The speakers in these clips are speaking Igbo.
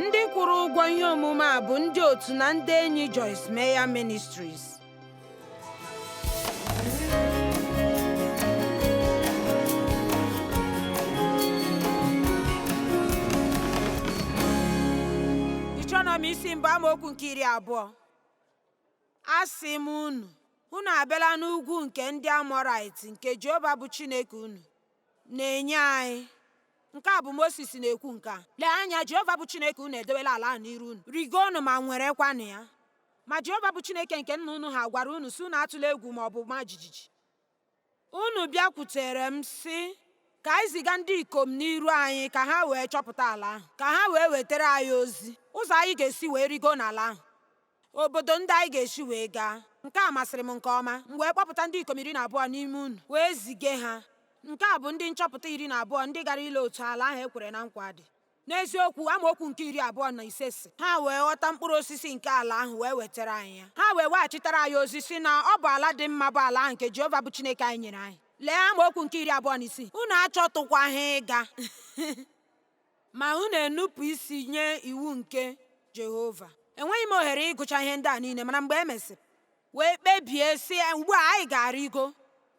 Ndị kwụrụ ụgwọ ihe omume a bụ ndị otu na ndị enyi Joyce Meyer Ministries. Deuteronomi isi mbụ amaokwu nke iri abụọ asị m unu unu abịala n'ugwu nke ndị Amọrait nke Jehova bụ Chineke unu na-enye anyị. Nke a bụ Mosis na-ekwu nke a. Lee anya, Jehova bụ Chineke unu edewela ala ahụ n'iru unu. Rigoonụ ma nwerekwanụ ya. Ma Jehova bụ Chineke nke nna unu ha gwara unu sị unu atụla egwu ma ọ bụ ma jijiji. Unu bịakwutere m sị, Ka anyị ziga ndị ikom n'iru anyị ka ha wee chọpụta ala ahụ, ka ha wee wetara anyị ozi ụzọ anyị ga-esi wee rigoo n'ala ahụ. obodo ndị anyị ga-esi wee gaa. Nke a masịrị m nke ọma. M wee kpọpụta ndị ikom iri na abụọ n'ime unu, wee zige ha. Nke a bụ ndị nchọpụta iri na abụọ ndị gara ile otu ala ahụ e kwere na nkwa dị. N'eziokwu, amaokwu nke iri abụọ na ise sị, Ha wee ghọta mkpụrụ osisi nke ala ahụ wee wetara anyị ya. Ha wee weghachitara anyị ozi sị na ọ bụ ala dị mma bụ ala ahụ nke Jehova bụ Chineke anyị nyere anyị. Lee amaokwu nke iri abụọ na isii, Unu achọtụkwaghị ịga. Ma unu enupụ isi nye iwu nke Jehova. Enweghị m ohere ịgụcha ihe ndị a niile, mana mgbe e mesịrị, wee kpebie sị, ugbu a anyị ga-arịgo.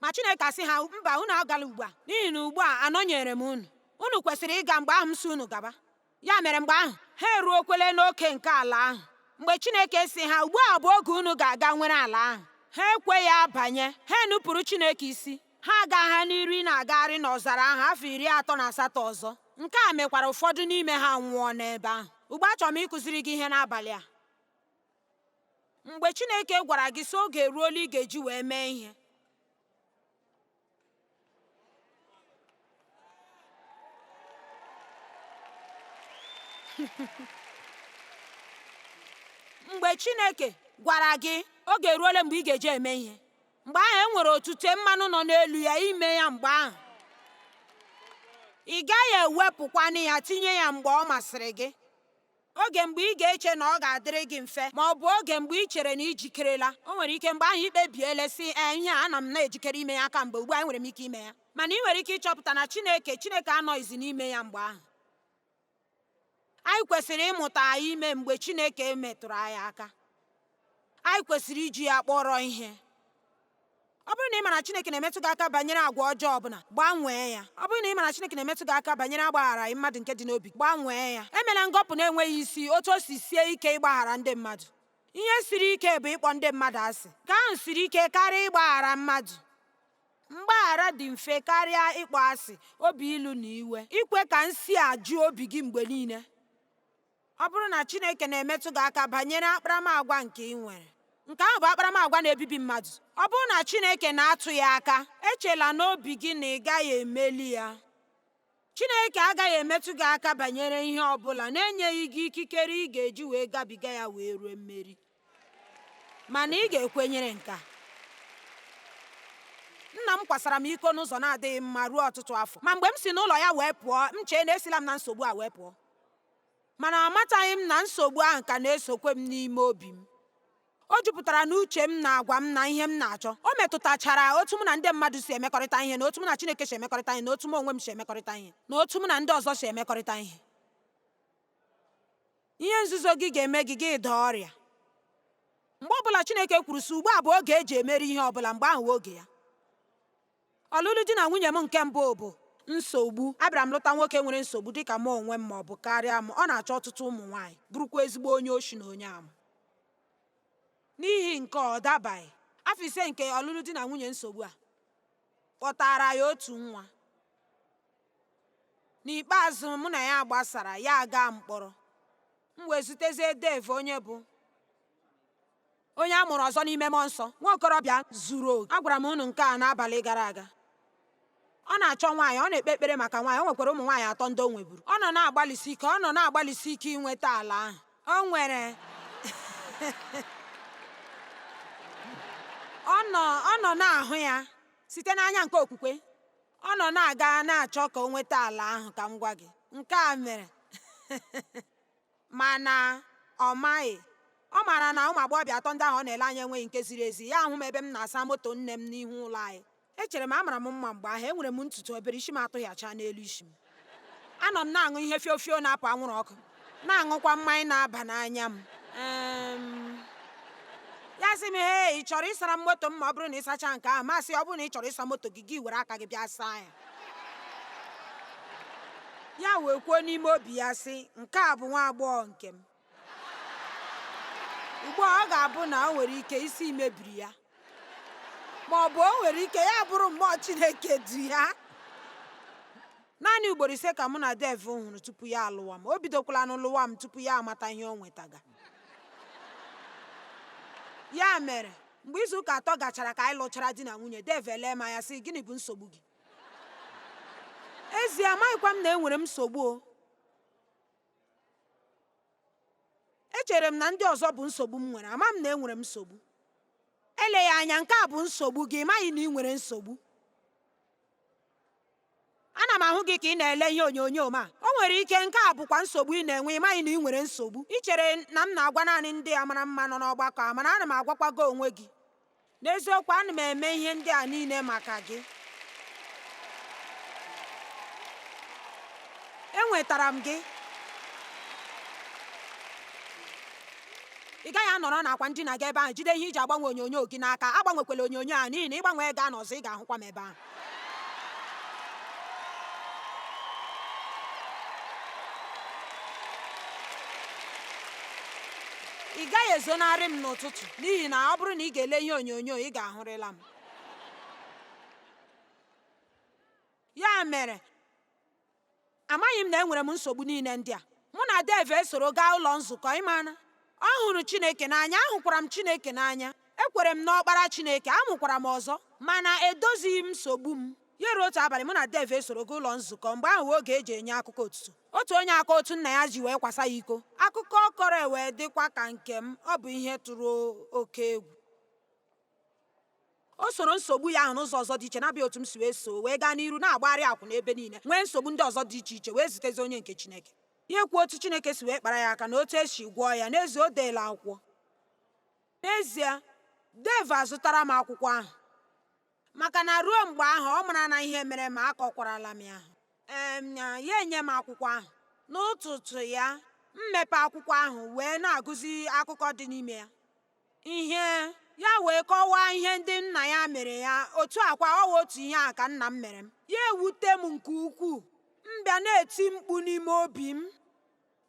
Ma Chineke asị ha, mba, unu agala ugbu a, n'ihi na ugbu a anọnyeere m unu. Unu kwesịrị ịga mgbe ahụ m sị unu gaba. Ya mere mgbe ahụ, ha eruokwele n'oke nke ala ahụ. Mgbe Chineke sị ha, ugbu a bụ oge unu ga-aga nwere ala ahụ, ha ekweghị abanye, ha enupụrụ Chineke isi. Ha agaa n'iru na-agagharị n'ọzara ahụ afọ iri atọ na asatọ ọzọ. Nke a mekwara ụfọdụ n'ime ha nwụọ n'ebe ahụ. Ugbu a achọrọ m ịkụziri gị ihe n'abalị a. Mgbe Chineke gwara gị sị oge eruola ị ga-eji wee mee ihe, mgbe Chineke gwara gị oge eruola mgbe ị ga-eji eme ihe mgbe ahụ e nwere otute mmanụ nọ n'elu ya ime ya mgbe ahụ ị gaghị ewepụkwanụ ya tinye ya mgbe ọ masịrị gị oge mgbe ị ga-eche na ọ ga-adịrị gị mfe ma ọ bụ oge mgbe ị chere na i jikerela o nwere ike mgbe ahụ i kpebiele sị ee eh, ihe a ana m na-ejikere ime ya kamgbe ugbu a enwere m ike ime ya mana i nwere ike ịchọpụta na Chineke Chineke anọghịzi n'ime ya mgbe ahụ Anyị kwesịrị ịmụta ime mgbe Chineke metụrụ anyị aka. Anyị kwesịrị iji ya kpọrọ ihe. Ọ bụrụ na ị ma na Chineke na-emetụ gị aka banyere agwa ọjọọ ọbụla, gbanwee ya. Ọ bụrụ na ị ma na Chineke na-emetụ gị aka banyere agbagharaghị mmadụ nke dị n'obi, gbanwee ya. Emela ngọpụ na-enweghị isi otu o si sie ike ịgbaghara ndị mmadụ. Ihe siri ike bụ ịkpọ ndị mmadụ asị. Nke ahụ siri ike karịa ịgbaghara mmadụ. Mgbaghara dị mfe karịa ịkpọ asị, obi ilu na iwe. Ikwe ka nsi a ju obi gị mgbe niile. Ọ bụrụ na Chineke na-emetụ gị aka banyere akparamagwa nke ị nwere, nke ahụ bụ akparamagwa na-ebibi mmadụ. Ọ bụrụ na Chineke na-atụ ya aka, echela n'obi gị na ị gaghị emeli ya. Chineke agaghị emetụ gị aka banyere ihe ọ bụla na-enyeghị gị ikikere ị ga-eji wee gabiga ya wee ruo mmeri. Mana ị ga-ekwenyere nke a. Nna m kwasara m iko n'ụzọ na-adịghị mma ruo ọtụtụ afọ. Ma mgbe m si n'ụlọ ya wee pụọ, m chee na esila m na nsogbu a wee pụọ. Mana amataghị m na nsogbu ahụ ka na-esokwe m n'ime obi m. O jupụtara n'uche m na agwa m na ihe m na-achọ. O metụtachara otu mụ na ndị mmadụ si emekọrịta ihe, na otu mụ na Chineke si emekọrịta ihe, na otu m onwe m si emekọrịta ihe, na otu mụ na ndị ọzọ si emekọrịta ihe. Ihe nzuzo gị ga-eme gị gị daa ọrịa. Mgbe ọbụla Chineke kwuru sị ugbu a bụ oge e ji emeri ihe ọbụla, mgbe ahụ bụ oge ya. Ọlụlụ di na nwunye m nke mbụ bụ nsogbu. Abịara m lụta nwoke nwere nsogbu dị ka mụ onwe m ma ọ bụ karịa m. Ọ na-achọ ọtụtụ ụmụ nwaanyị, bụrụkwa ezigbo onye oshi na onye ama. N'ihi nke a, ọ dabaghị. Afọ ise nke ọlụlụ di na nwunye nsogbu a kpọtaara anyị otu nwa. N'ikpeazụ, mụ na ya gbasara, ya agaa mkpọrọ. M wee zutezie Dave, onye bụ Onye a mụrụ ọzọ n'ime mmụọ nsọ, nwa okorobịa zuru oke. Agwara m unu nke a n'abalị gara aga. Ọ na-achọ nwaanyị, ọ na-ekpe ekpere maka nwaanyị, o nwekwara ụmụ nwaanyị atọ ndị o nweburu. Ọ nọ na-agbalịsi ike, ọ nọ na-agbalịsi ike inweta ala ahụ. O nwere ọ nọ ọ nọ na-ahụ ya site n'anya nke okwukwe. Ọ nọ na-aga na-achọ ka o nweta ala ahụ, ka m gwa gị. Nke a mere. Mana ọ maghị. Ọ maara na ụmụagbọghọbịa atọ ndị ahụ ọ na-ele anya enweghị nke ziri ezi. Ya ahụ m ebe m na-asa moto nne m n'ihu ụlọ anyị. Echere m, amara m mma mgbe ahụ, enwere m ntutu obere, isi m atụhịachaa n'elu isi m. Anọ m na-aṅụ ihe fio fio na-apụ anwụrụ ọkụ, na-aṅụkwa mmanya na-aba n'anya m. Um, ya sị m, Hei, ị chọrọ ịsara m moto m ma ọ bụrụ na ị sachaa nke ahụ? M asị ya, Ọ bụrụ na ị chọrọ ịsa moto gị, gị were aka gị bịa saa ya. ya wee kwuo n'ime obi ya sị nke a bụ nwa agbọghọ nke m ugbu a ọ ga-abụ na o nwere ike isi mebiri ya ma ọ bụ o nwere ike ya bụrụ mmụọ chineke du ya naanị ugboro ise ka mụ na dave hụrụ tupu ya alụwa m o bidokwalanụ lụwa m tupu ya amata ihe o nwetaga ya mere mgbe izu ụka atọ gachara ka anyị lụchara di na nwunye Dave elee m anya sị gịnị bụ nsogbu gị ezie amaghịkwa m na enwere m nsogbu o echere m na ndị ọzọ bụ nsogbu m nwere ama m na enwere m nsogbu eleghị anya nke a bụ nsogbu gị ị maghị na ị nwere nsogbu ana m ahụ gị ka ị na-ele ihe onyonyo ma o nwere ike nke a bụkwa nsogbu ị na-enwe ị maghị na ị nwere nsogbu i chere na m na-agwa naanị ndị a mara mma nọ n'ọgbakọ a mana ana m agwakwa gị onwe gị n'eziokwu ana m eme ihe ndị a niile maka gị enwetara m gị ị gaghị anọrọ n'akwa ndina gị ebe ahụ jide ihe eji agbanwe onyonyo gị n'aka agbanwekwala onyonyo a n'ihi na ị gbanwee gaa n'ọzọ ị ga-ahụkwa m ebe ahụ ị gaghị ezonarị m n'ụtụtụ n'ihi na ọ bụrụ na ị ga-ele ihe onyonyo ị ga-ahụrịla m ya mere Amaghị m na enwere m nsogbu niile ndị a. Mụ na Dave esoro gaa ụlọ nzukọ, ị ma na ọ hụrụ Chineke n'anya, ahụkwara m Chineke n'anya. Ekwere m n'Ọkpara Chineke, amụkwara m ọzọ, mana edozighị m nsogbu m. Ya ruo otu abalị, mụ na Dave esoro gaa ụlọ nzukọ, mgbe ahụ wee oge eji enye akụkọ otuto. Otu onye akọọ otu nna ya ji wee kwasa ya iko, akụkọ ọ kọrọ ewee dịkwa ka nke m, ọ bụ ihe tụrụ oke egwu. O soro nsogbu ya ahụ n'ụzọ ọzọ dị iche na-abụghị otu m si wee soo wee gaa n'iru na-agbagharị akwụna ebe niile nwee nsogbu ndị ọzọ dị iche iche wee zutezi onye nke Chineke ya ekwuo otu Chineke si wee kpara ya aka na otu esi gwọọ ya n'ezie o deela akwụkwọ n'ezie Dave azụtara m akwụkwọ ahụ maka na ruo mgbe ahụ ọ marala ihe mere m akọkwarala m ya ee ya enye m akwụkwọ ahụ n'ụtụtụ ya m mepee akwụkwọ ahụ wee na-agụzi akụkọ dị n'ime ya ihe ya wee kọwaa ihe ndị nna ya mere ya otu a kwa ọ bụ otu ihe ahụ ka nna m mere m ya ewute m nke ukwuu m bịa na-eti mkpu n'ime obi m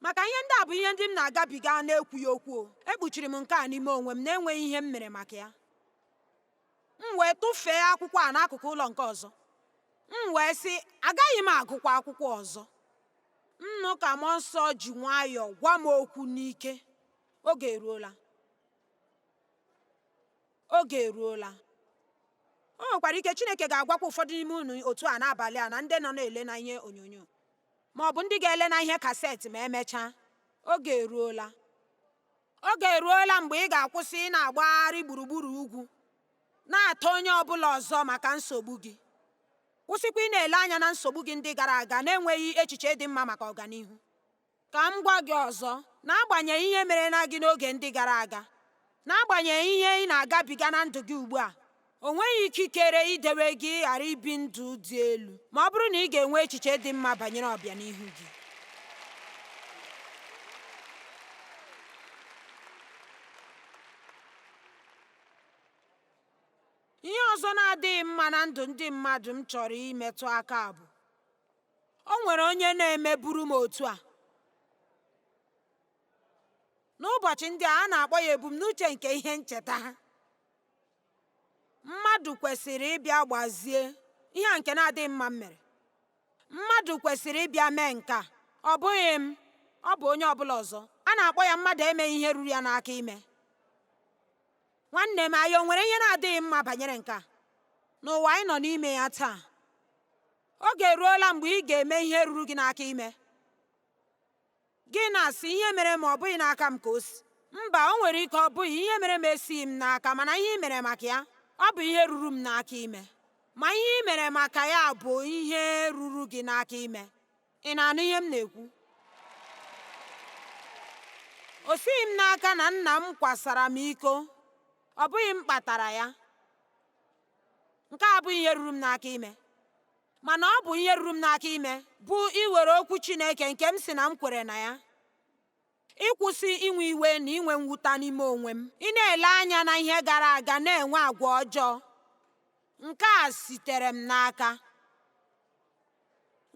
maka ihe ndị a bụ ihe ndị m na-agabiga na-ekwughị okwu ekpuchiri m nke a n'ime onwe m na-enweghị ihe m mere maka ya m wee tụfee akwụkwọ a n'akụkụ ụlọ nke ọzọ m wee sị agaghị m agụkwa akwụkwọ ọzọ m nụ ka mmụọ nsọ ji nwayọọ gwa m okwu n'ike Oge eruola. Oge eruola. O nwekwara ike Chineke ga-agwakwa ụfọdụ n'ime unu otu a n'abalị a na ndị nọ na-ele na ihe onyonyo ma ọ bụ ndị ga-ele na ihe kaseti ma emechaa. Oge eruola. Oge eruola mgbe ị ga-akwụsị ị na-agbagharị gburugburu ugwu na-ata onye ọ bụla ọzọ maka nsogbu gị. Kwụsịkwa ị na-ele anya na nsogbu gị ndị gara aga na-enweghị echiche dị mma maka ọganihu. Ka m gwa gị ọzọ, n'agbanyeghị ihe mere na gị n'oge ndị gara aga, n'agbanyeghị ihe ị na-agabiga na ndụ gị ugbu a, o nweghị ikikere idewe gị ghara ibi ndụ dị elu ma ọ bụrụ na ị ga-enwe echiche dị mma banyere ọbịanihu gị. Ihe ọzọ na-adịghị mma na ndụ ndị mmadụ m chọrọ imetụ aka bụ O nwere onye na-emeburu m otu a? N'ụbọchị ndị a, a na-akpọ ya ebumnuche nke ihe ncheta ha. Mmadụ kwesịrị ịbịa gbazie ihe a nke na-adịghị mma m mere. Mmadụ kwesịrị ịbịa mee nke a, ọ bụghị m, ọ bụ onye ọbụla ọzọ. A na-akpọ ya mmadụ emeghị ihe ruru ya n'aka ime. Nwanne m, anyị o nwere ihe na-adịghị mma banyere nke a? N'ụwa anyị nọ n'ime ya taa, Oge eruola mgbe ị ga-eme ihe ruru gị n'aka ime. Gị na-asị, ihe mere m ọ bụghị n'aka m ka o si. Mba, o nwere ike ọ bụghị, ihe mere m esighị m n'aka, mana ihe i mere maka ya, ọ bụ ihe ruru m n'aka ime. Ma ihe i mere maka ya bụ ihe ruru gị n'aka ime. Ị na-anụ ihe m na-ekwu? O sighị m n'aka na nna m kwasara m iko, ọ bụghị m kpatara ya. Nke a abụghị ihe ruru m n'aka ime, mana ọ bụ ihe ruru m n'aka ime bụ iwere okwu Chineke nke m si na m kwere na ya, ịkwụsị inwe iwe na inwe mwuta n'ime onwe m, ị na-ele anya na ihe gara aga na-enwe agwa ọjọọ. Nke a sitere m n'aka.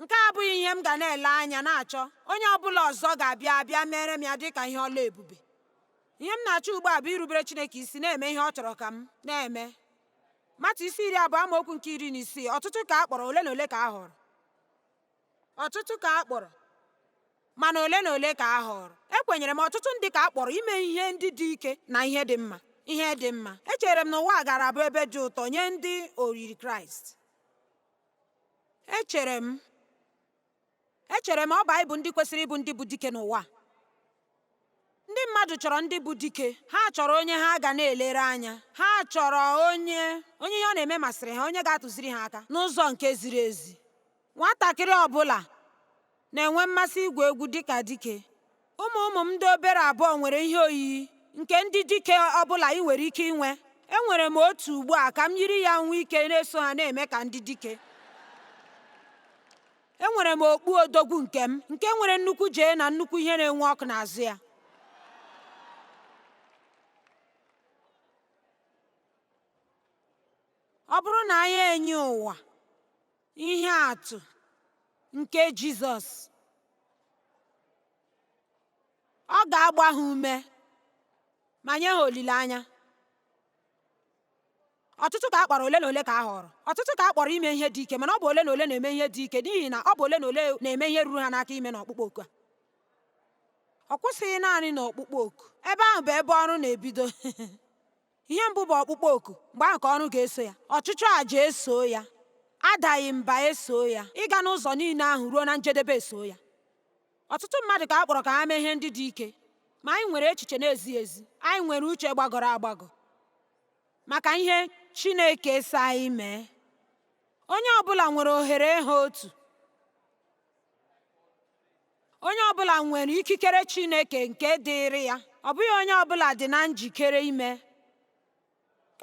nke a abụghị ihe m ga na-ele anya na-achọ onye ọbụla ọzọ ga-abịa abịa meere m ya dị ka ihe ọlụ ebube ihe m na-achọ ugbu a bụ irubere Chineke isi na-eme ihe ọ chọrọ ka m na-eme matiu isi iri abụọ amaokwu nke iri na isii ọtụtụ ka a kpọrọ ole na ole ka a họrọ ọtụtụ ka a kpọrọ mana ole na ole ka a họọrọ ekwenyere m ọtụtụ ndị ka a kpọrọ ime ihe ndị dị ike na ihe dị mma ihe dị mma echere m na ụwa gaara abụ ebe dị ụtọ nye ndị oyiri kraịst Echere m Echere m ọ bụ anyị bụ ndị kwesịrị ịbụ ndị bụ dike n'ụwa a. Ndị mmadụ chọrọ ndị bụ dike, ha chọrọ onye ha ga na-elere anya, ha chọrọ onye onye ihe ọ na-eme masịrị ha, onye ga-atụziri ha aka n'ụzọ nke ziri ezi. Nwatakịrị ọ bụla na-enwe mmasị igwu egwu dị ka dike. Ụmụ ụmụ m ndị obere abụọ nwere ihe oyiyi nke ndị dike ọ bụla i nwere ike inwe. Enwere m otu ugbu a ka m yiri ya nwee ike na-eso ha na-eme ka ndị dike. Enwere m okpu odogwu nke m nke nwere nnukwu J na nnukwu ihe na-enwu ọkụ n'azụ ya. Ọ bụrụ na anyị enye ụwa Ihe atụ nke Jizọs ọ ga-agba ha ume ma nye ha olileanya ọtụtụ ka a kpọrọ ole na ole ka a họrọ ọtụtụ ka a kpọrọ ime ihe dị ike mana ọ bụ ole na ole na-eme ihe dị ike n'ihi na ọ bụ ole na ole na-eme ihe ruru ha n'aka ime na ọkpụkpọ oku a ọ kwụsịghị naanị na ọkpụkpọ oku ebe ahụ bụ ebe ọrụ na-ebido Ihe mbụ bụ ọkpụkpọ oku, mgbe ahụ ka ọrụ ga-eso ya. Ọchụchụ aja esoo ya. Adaghị mba esoo ya. Ịga n'ụzọ niile ahụ ruo na njedebe esoo ya. Ọtụtụ mmadụ ka a kpọrọ ka ha mee ihe ndị dị ike, ma anyị nwere echiche na-ezighị ezi, anyị nwere uche gbagọrọ agbagọ maka ihe Chineke sị anyị mee. Onye ọ bụla nwere ohere ha otu. Onye ọ bụla nwere ikikere Chineke nke dịịrị ya, ọ bụghị onye ọ bụla dị na njikere ime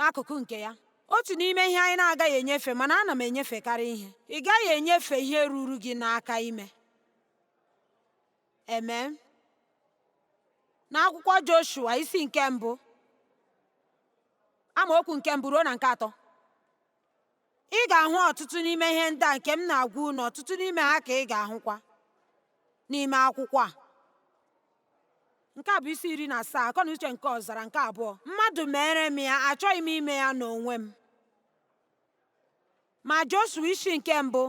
akụkụ nke ya. Otu n'ime ihe anyị na-agaghị enyefe, mana ana m enyefekarị ihe, ị gaghị enyefe ihe ruru gị n'aka ime. Amen. N'akwụkwọ Joshua isi nke mbụ amaokwu nke mbụ ruo na nke atọ Ị ga-ahụ ọtụtụ n'ime ihe ndị a nke m na-agwa unu, ọtụtụ n'ime ha ka ị ga-ahụkwa n'ime akwụkwọ a. Nke a bụ isi iri na asaa, akọ na uche nke ọzara nke abụọ. Mmadụ mere m ya, achọghị m ime ya n'onwe m. Ma Joshua isi nke mbụ,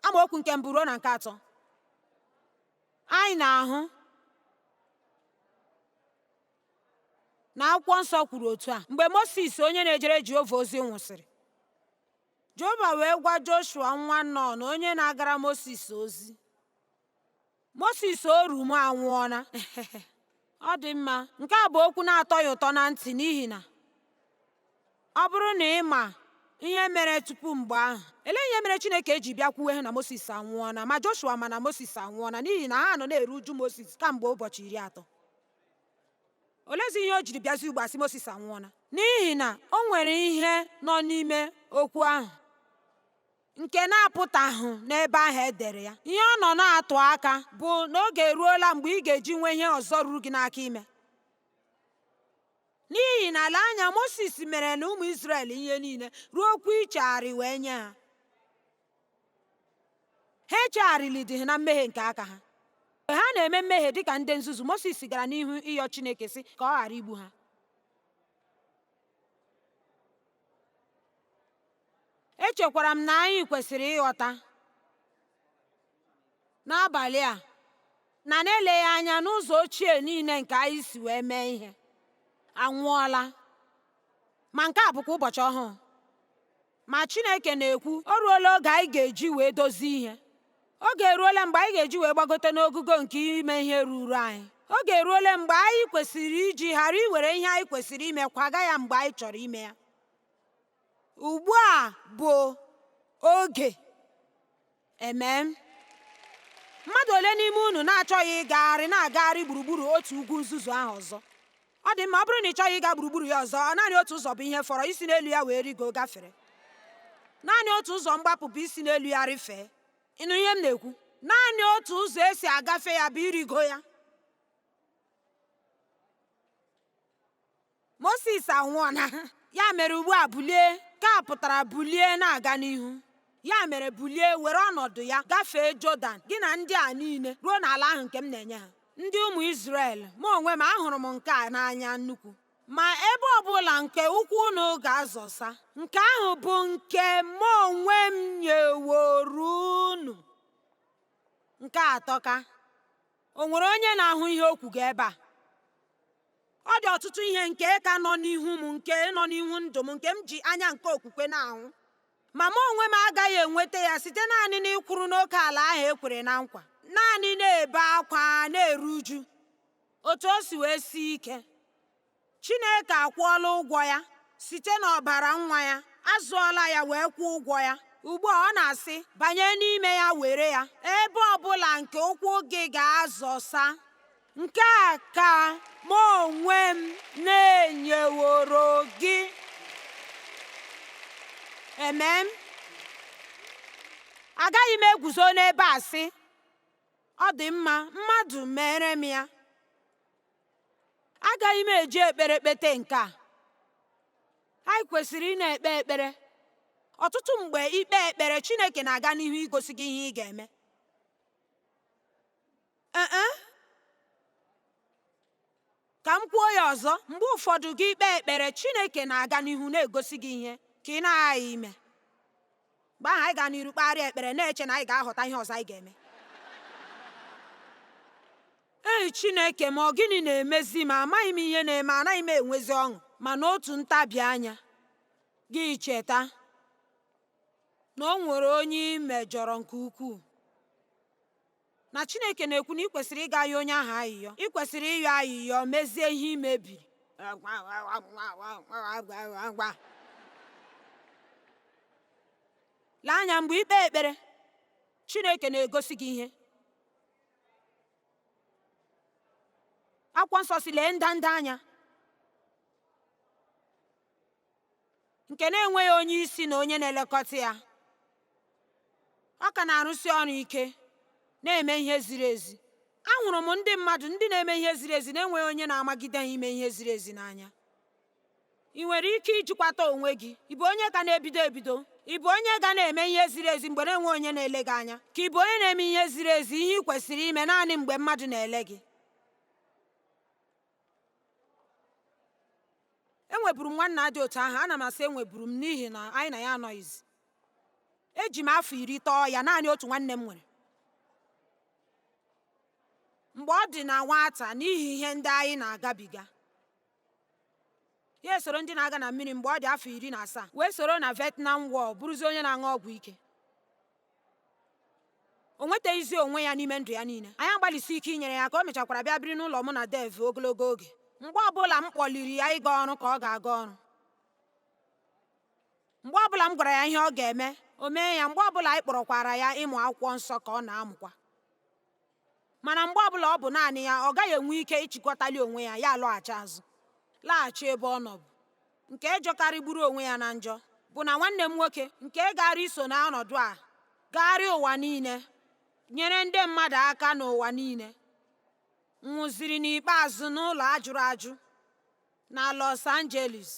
amaokwu nke mbụ ruo na nke atọ, anyị na-ahụ na akwụkwọ nsọ kwuru otu a mgbe Mosis onye na-ejere Jehova ozi nwụsịrị Jehova wee gwa Joshua nwa Nọn onye na-agara Mosis ozi Mosis oru m anwụọla ọ dị mma nke a bụ okwu na-atọ ya ụtọ na ntị n'ihi na ọ bụrụ na ị ma ihe mere tupu mgbe ahụ elee ihe mere Chineke ji bịa kwuwe ha na Mosis anwụọla ma Joshua ma na Mosis anwụọla n'ihi na ha nọ na-eru uju Mosis kamgbe ụbọchị iri atọ olezi ihe o jiri bịazi ugbu a sị Mosis anwụọla n'ihi na o nwere ihe nọ n'ime okwu ahụ nke na-apụtahụ n'ebe ahụ e dere ya ihe ọ nọ na-atụ aka bụ na oge eruola mgbe ị ga-eji nwee ihe ọzọ ruru gị n'aka ime n'ihi na lee anya Mosis mere na ụmụ Izrel ihe niile ruo okwu ichegharị wee nye ha ha echegharịlidịghị na mmehie nke aka ha mgbe ha na-eme mmehie dị ka ndị nzuzu Mosis gara n'ihu ịyọ Chineke sị ka ọ ghara igbu ha echekwara m na anyị kwesịrị ịghọta n'abalị a na n'eleghị anya na ụzọ ochie niile nke anyị si wee mee ihe anwụọla ma nke a bụkwa ụbọchị ọhụụ Ma Chineke na-ekwu, o ruola oge anyị ga-eji wee dozie ihe. Oge eruola mgbe anyị ga-eji wee gbagote n'ogugo nke ime ihe ruru anyị. Oge eruola mgbe anyị kwesịrị iji ghara iwere ihe anyị kwesịrị ime kwaga ya mgbe anyị chọrọ ime ya. Ugbu a bụ oge. Amen. Mmadụ ole n'ime unu na-achọghị ịgagharị na-agagharị gburugburu otu ugwu nzuzu ahụ ọzọ? Ọ dị mma, ọ bụrụ na ị chọghị ịga gburugburu ya ọzọ, naanị otu ụzọ bụ ihe fọrọ isi n'elu ya wee rigo gafere. Naanị otu ụzọ mgbapụ bụ isi n'elu ya rịfee. Ị nụ ihe m na-ekwu? Naanị otu ụzọ e si agafe ya bụ irigo ya. Mosis anwụọna, ya mere ugbu a bulie, nke a pụtara bulie na-aga n'ihu. Ya mere bulie were ọnọdụ ya gafee Jọdan gị na ndị a niile ruo n'ala ahụ nke m na-enye ha. Ndị ụmụ Izrel, mụ onwe m ahụrụ m nke a n'anya nnukwu. Ma ebe ọ bụla nke ụkwụ unu ga-azọsa, nke ahụ bụ nke mụ onwe m nyeworo unu. Nke a atọka, o nwere onye na-ahụ ihe o kwuga ebe a? Ọ dị ọtụtụ ihe nke ka nọ n'ihu m nke nọ n'ihu ndụ m nke m ji anya nke okwukwe na-ahụ. Ma mụ onwe m agaghị enweta ya site naanị n'ịkwụrụ n'oke ala ahụ e kwere na nkwa, naanị na-ebe akwa na-eru uju. Otu o si wee sie ike, Chineke akwụọla ụgwọ ya site n'ọbara nwa ya, azụọla ya wee kwụọ ụgwọ ya. Ugbu a ọ na-asị, banye n'ime ya were ya, ebe ọ bụla nke ụkwụ gị ga-azọsa. nke a ka mụ onwe m na-enyeworo gị amen agaghị m eguzo n'ebe a sị ọ dị mma mmadụ meere m ya agaghị m eji ekpere kpete nke a anyị kwesịrị ị na-ekpe ekpere ọtụtụ mgbe i kpee ekpere chineke na-aga n'ihu igosi gị ihe ị ga-eme Ee e. Ka m kwuo ya ọzọ, mgbe ụfọdụ gị kpee ekpere, Chineke na-aga n'ihu na-egosi gị ihe nke ị na-aghaghị ime. Mgbe ahụ anyị gaa n'iru kpegharịa ekpere na-eche na anyị ga-aghọta ihe ọzọ anyị ga-eme. Ee Chineke m, ọ gịnị na-emezi m? Amaghị m ihe na-eme, anaghị m enwezi ọṅụ. Ma n'otu ntabi anya, gị cheta na o nwere onye ị mejọrọ nke ukwuu. na Chineke na-ekwu na ị kwesịrị ịga yọọ onye ahụ ayịyọ ị kwesịrị ịyọ ayịyọ mezie ihe i mebiri lee anya mgbe i kpee ekpere Chineke na-egosi gị ihe akwụkwọ nsọ sị lee ndanda anya nke na-enweghị onye isi na onye na-elekọta ya ọ ka na-arụsi ọrụ ike na-eme ihe ziri ezi ahụrụ m ndị mmadụ ndị na-eme ihe ziri ezi na-enweghị onye na-amagide ha ime ihe ziri ezi n'anya ị nwere ike ijikwata onwe gị ị bụ onye ka na-ebido ebido ị bụ onye ga na-eme ihe ziri ezi mgbe na-enweghị onye na-ele gị anya ka ị bụ onye na-eme ihe ziri ezi ihe ị kwesịrị ime naanị mgbe mmadụ na-ele gị enweburu m nwanna dị otu ahụ ana m asị enweburu m n'ihi na anyị na ya anọghịzi eji m afọ iri tọọ ya naanị otu nwanne m nwere mgbe ọ dị na nwata n'ihi ihe ndị anyị na-agabiga Ya esoro ndị na-aga na mmiri mgbe ọ dị afọ iri na asaa wee soro na Vietnam War bụrụzie onye na-aṅụ ọgwụ ike. O nwetaghịzi onwe ya n'ime ndụ ya niile. Anyị agbalịsi ike inyere ya aka. O mechakwara bịa biri n'ụlọ mụ na Dev ogologo oge. Mgbe ọbụla m kpọliri ya ịga ọrụ ka ọ ga-aga ọrụ. Mgbe ọbụla m gwara ya ihe ọ ga-eme, o mee ya. Mgbe ọbụla anyị kpọrọkwara ya ịmụ akwụkwọ nsọ ka ọ na-amụkwa. Mana mgbe ọbụla ọ bụ naanị ya, ọ gaghị enwe ike ịchịkwatali onwe ya, ya alọghachi azụ, laghachi ebe ọ nọbu. Nke jọkarịgburu onwe ya na njọ bụ na nwanne m nwoke nke gaara iso n'ọnọdụ a gagharịa ụwa niile nyere ndị mmadụ aka n'ụwa niile nwụziri n'ikpeazụ n'ụlọ a jụrụ ajụ na Los Angeles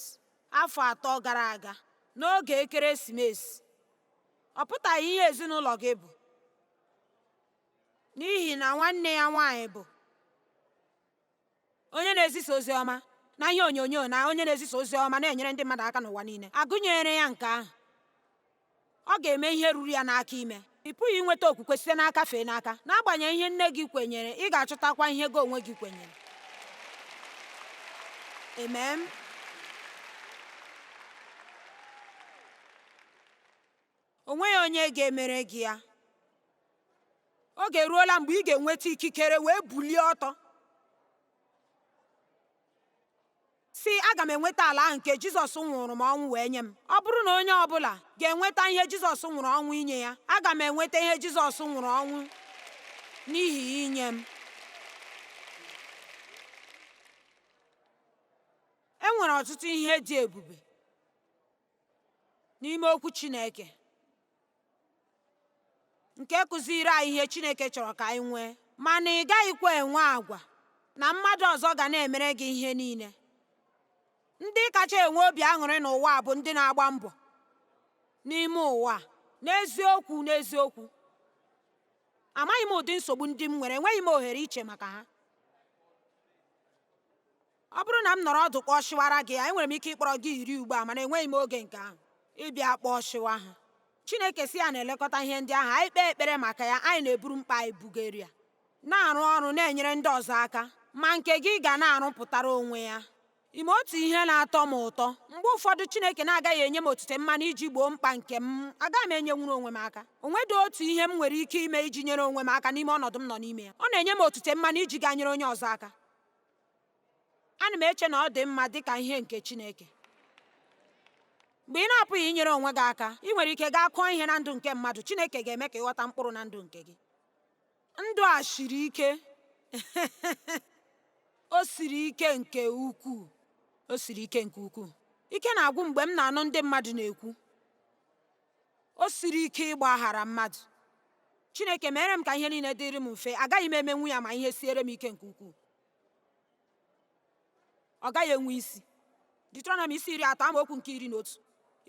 afọ atọ gara aga n'oge ekeresimesi. Ọ pụtaghị ihe ezinụlọ gị bụ. n'ihi na nwanne ya nwaanyị bụ onye na-ezisa ozi ọma na ihe onyonyo na onye na-ezisa ozi ọma na-enyere ndị mmadụ aka n'ụwa niile agụnyere ya nke ahụ ọ ga-eme ihe ruru ya n'aka ime ị pụghị inweta okwukwe site n'aka fee n'aka n'agbanyeghị ihe nne gị kwenyere ị ga-achọtakwa ihe gị onwe gị kwenyere amen O nweghị onye ga-emere gị ya. Oge eruola mgbe ị ga-enweta ikikere wee bulie ọtọ sị aga m enweta ala ahụ nke Jizọs nwụrụ m ọnwụ wee nye m ọ bụrụ na onye ọbụla ga-enweta ihe Jizọs nwụrụ ọnwụ inye ya aga m enweta ihe Jizọs nwụrụ ọnwụ n'ihi inye m e nwere ọtụtụ ihe dị ebube n'ime okwu Chineke nke kụziiri anyị ihe Chineke chọrọ ka anyị nwee mana ị gaghịkwa enwe agwa na mmadụ ọzọ ga na-emere gị ihe niile ndị kacha enwe obi aṅụrị n'ụwa bụ ndị na-agba mbọ n'ime ụwa n'eziokwu n'eziokwu amaghị m ụdị nsogbu ndị m nwere enweghị m ohere iche maka ha Ọ bụrụ na m nọrọ ọdụ kpọsịwara gị ha, enwere m ike ịkpọrọ gị iri ugbu a, mana enweghị m oge nke ahụ ịbịa kpọsịwa ha. Chineke si ya na-elekọta ihe ndị ahụ, anyị kpee ekpere maka ya, anyị na-eburu mkpa anyị bugara ya, na-arụ ọrụ na-enyere ndị ọzọ aka, ma nke gị ga na-arụpụtara onwe ya. Ị ma otu ihe na-atọ m ụtọ. Mgbe ụfọdụ Chineke na-agaghị enye m otite mmanụ iji gboo mkpa nke m, agaghị m enyenwuru onwe m aka. O nwedị otu ihe m nwere ike ime iji nyere onwe m aka n'ime ọnọdụ m nọ n'ime ya. Ọ na-enye m otite mmanụ iji gaa nyere onye ọzọ aka. ana m eche na ọ dị mma dị ka ihe nke Chineke mgbe ị na-apụghị inyere onwe gị aka ị nwere ike gaa kụọ ihe na ndụ nke mmadụ Chineke ga-eme ka ị ghọta mkpụrụ na ndụ nke gị ndụ a siri ike o siri ike nke ukwuu o siri ike nke ukwuu ike na-agwụ m mgbe m na-anụ ndị mmadụ na-ekwu O siri ike ịgbaghara mmadụ. Chineke meere m ka ihe niile dịrị m mfe, agaghị m emenwu ya ma ihe siere m ike nke ukwuu. Ọ gaghị enwe isi. Deuteronomi isi iri atọ amaokwu nke iri na otu.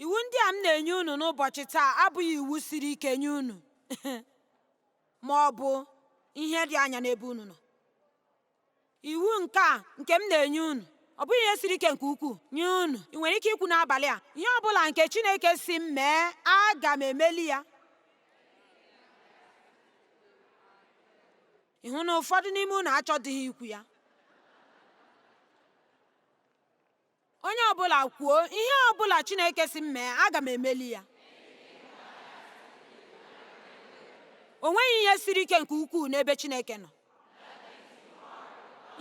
Iwu ndị a m na-enye unu n'ụbọchị taa abụghị iwu siri ike nye unu ma ọ bụ ihe dị anya n'ebe unu nọ. iwu nke a nke m na-enye unu ọ bụghị ihe siri ike nke ukwuu nye unu ị nwere ike ikwu n'abalị a ihe ọ bụla nke Chineke si m mee aga m emeli ya ị hụ na ụfọdụ n'ime unu achọdịghị ikwu ya Onye ọ bụla kwuo, ihe ọ bụla Chineke si m mee, aga m emeli ya. O nweghị ihe siri ike nke ukwuu n'ebe Chineke nọ.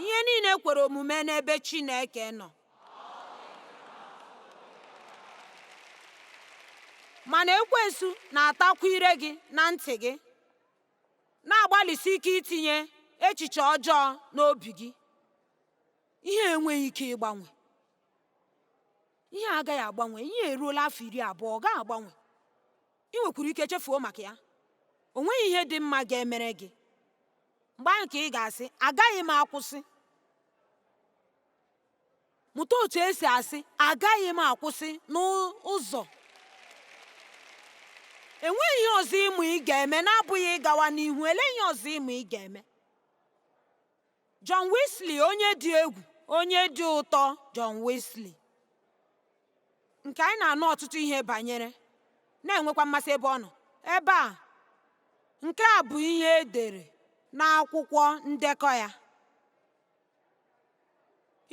Ihe niile kwere omume n'ebe Chineke nọ. Mana ekwensu na-atakwunyere gị na ntị gị, na-agbalịsi ike itinye echiche ọjọọ n'obi gị. Ihe enweghị ike ịgbanwe. Ihe agaghị agbanwe. Ihe eruola afọ iri abụọ, ọ gaghị agbanwe. Ị nwekwuru ike chefuo maka ya. O nweghị ihe dị mma ga-emere gị. Mgbe ahụ ka ị ga-asị, Agaghị m akwụsị. Mụta otu e si asị, Agaghị m akwụsị n'ụzọ enweghị ihe ọzọ ị ma ị ga-eme na-abụghị ịgawa n'ihu elee ihe ọzọ ị ma ị ga-eme John Wesley onye dị egwu onye dị ụtọ John Wesley nke anyị na-anụ ọtụtụ ihe banyere na-enwekwa mmasị ebe ọ nọ ebe a nke a bụ ihe e dere n'akwụkwọ ndekọ ya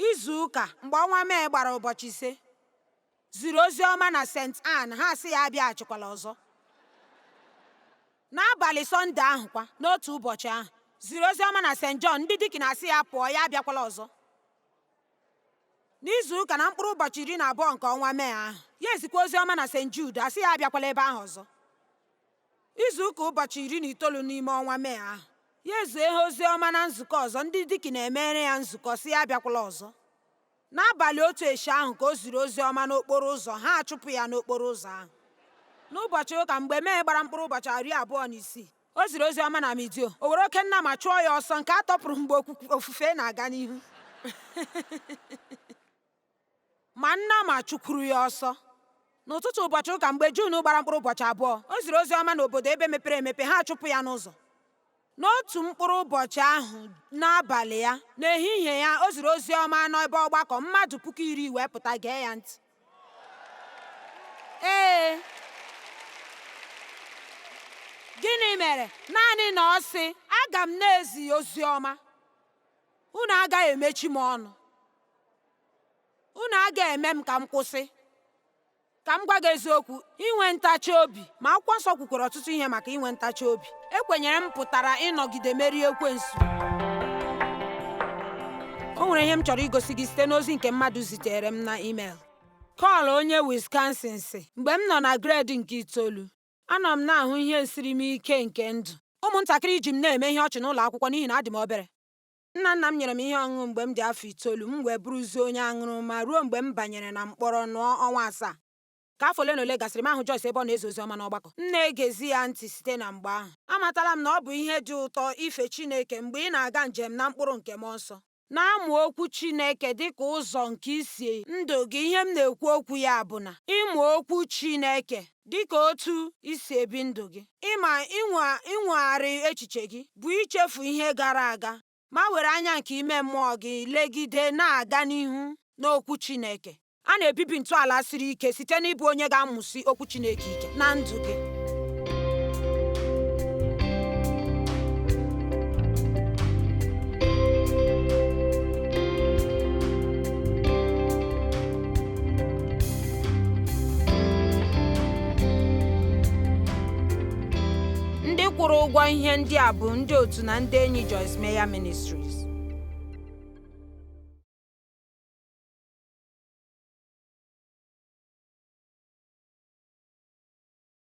izu ụka mgbe ọnwa Mee gbara ụbọchị ise ziri ozi ọma na St. Ann, ha asị ya abịaghachikwala ọzọ. N'abalị Sọnde ahụ kwa, n'otu ụbọchị ahụ, ziri ozi ọma na St. John, ndị dikin asị ya pụọ, ya abịakwala ọzọ. N'izu ụka na mkpụrụ ụbọchị iri na abụọ nke ọnwa Mee ahụ, ya ezikwa ozi ọma na St. Jude, a sị ya abịakwala ebe ahụ ọzọ. Izu ụka ụbọchị iri na itoolu n'ime ọnwa Mee ahụ, ya ezie ha ozi ọma na nzukọ ọzọ, ndị dikin emere ya nzukọ, sị ya abịakwala ọzọ. N'abalị otu echi ahụ ka o ziri ozi ọma n'okporo ụzọ, ha achụpụ ya n'okporo ụzọ ahụ. N'ụbọchị ụka, mgbe Mee gbara mkpụrụ ụbọchị iri abụọ na isii, o ziri ozi ọma na meadow. O were oke nnama chụọ ya ọsọ nke a tọpụrụ mgbe ofufe na-aga n'ihu. Ma nnama chụkwuru ya ọsọ. N'ụtụtụ ụbọchị ụka mgbe Jun gbara mkpụrụ ụbọchị abụọ, o ziri ozi ọma n'obodo ebe mepere emepe, ha achụpụ ya n'ụzọ. N'otu mkpụrụ ụbọchị ahụ, n'abalị ya, n'ehihie ya, o ziri ozi ọma n'ebe ọgbakọ, mmadụ puku iri wee pụta gee ya ntị. Ee, gịnị mere? Naanị na ọ sị, Aga m na-ezi ozi ọma, unu agaghị emechi m ọnụ, unu agaghị eme m ka m kwụsị. ka m gwa gị eziokwu inwe ntachi obi ma akwụkwọ nsọ kwukwara ọtụtụ ihe maka inwe ntachi obi ekwenyere m pụtara ịnọgide merie ekwensu o nwere ihe m chọrọ igosi gị site n'ozi nke mmadụ ziteere m na email kọl onye Wisconsin sị mgbe m nọ na gred nke itoolu anọ m na-ahụ ihe nsiri m ike nke ndụ ụmụntakịrị ji m na-eme ihe ọchị n'ụlọ akwụkwọ n'ihi na adị m obere Nna nna m nyere m ihe ọṅụṅụ mgbe m dị afọ itoolu, m wee bụrụzie onye aṅụrụma ruo mgbe m banyere na mkpọrọ nọọ ọnwa asaa. Ka afọ ole na ole gasịrị, m ahụ Joyce ebe ọ na-ezi ozi ọma n'ọgbakọ. M na-egezi ya ntị site na mgbe ahụ. Amatala m na ọ bụ ihe dị ụtọ ife Chineke mgbe ị na-aga njem na mkpụrụ nke mmụọ nsọ. Na-amụ Okwu Chineke dị ka ụzọ nke isi ndụ gị. Ihe m na-ekwu okwu ya bụ na ịmụ Okwu Chineke dị ka otu i si ebi ndụ gị. Ịma inwegharị echiche gị bụ ichefu ihe gara aga ma were anya nke ime mmụọ gị legide na-aga n'ihu n'Okwu Chineke. A na-ebibi ntọala siri ike site n'ịbụ onye ga-amụsi Okwu Chineke ike na ndụ gị. ndị kwụrụ ụgwọ ihe ndị a bụ ndị otu na ndị enyi Joyce Meyer Ministries